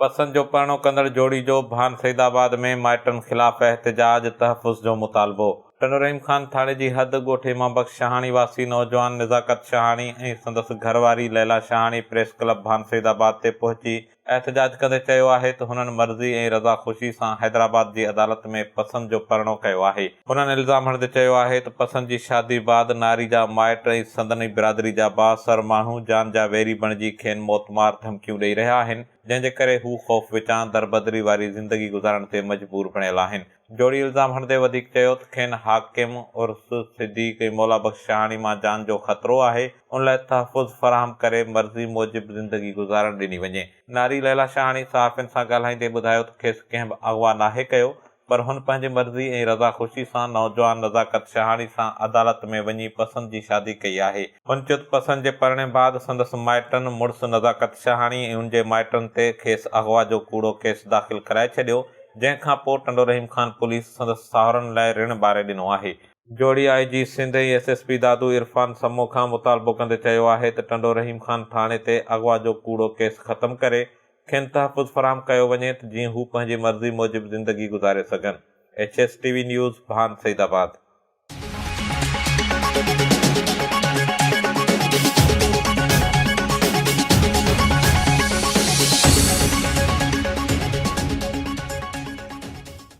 بسن جو پرڻو ڪندڙ جوڙي جو ڀان سيدآباد ۾ مائٽن خلاف احتجاج، تحفظ جو مطالبو. ٽنڊو رحيم خان ٿاڙي جي حد ڳوٺ امام بخش شاهاڻي واسي نوجوان نزاڪت شاهاڻي ۽ سندس گهر واري ليلا شاهاڻي پريس ڪلب ڀان سيدآباد تي پهچي احتجاج ڪندي چيو آهي ته هنن مرضي ۽ رضا خوشي سان حيدرآباد جي عدالت ۾ پسند جو پرڻو ڪيو آهي. هنن الزام هڻندي چيو آهي ته پسند جي شادي بعد ناري جا مائٽ ۽ سندن ئي برادري جا بااثر ماڻهو جان جا ويري بڻجي کين موتمار ڌمڪيون ڏئي رهيا آهن جنهن جي ڪري هو خوف وچان دربدري واري زندگي گذارڻ تي مجبور بڻيل آهن. جوڙي الزام هڻندي وڌيڪ چيو ته کين حاڪم عرس صديق ۽ مولا بخش شاهاڻي مان جان جو خطرو آهي ان لاء تحفظ فراهم ڪري مرضي موجب زندگي گذارڻ ڏني وڃي. ناري ليلا شاهاڻي صحافين سان ڳالهائيندي ٻڌايو ته کيس ڪنهن به اغوا ناهي ڪيو پر هن پنهنجي مرضي ۽ رضا خوشي سان نوجوان نزاڪت شهاڻي سان عدالت ۾ وڃي پسند جي شادي ڪئي آهي. هن چيو ته پسند جي پرڻي بعد سندس مائٽن مڙس نزاڪت شهاڻي ۽ ان جي مائٽن تي کيس اغوا جو ڪوڙو ڪيس داخل ڪرائي ڇڏيو، جنهن کان پوء ٽنڊو رحيم خان پوليس سندس ساهرن لاء رڻ ٻاري ڏنو آهي. جوڙي I G Sindh ۽ S S P Dadu Irfan Samoon کان مطالبو ڪندي چيو آهي ته ٽنڊو رحيم خان ٿاڻي تي اغوا جو ڪوڙو ڪيس ختم ڪري کين تحفظ فراهم ڪيو وڃي ته جيئن هو پنهنجي مرضي موجب زندگي گذاري سگهن، H S T V news, Bhan Syed آباد.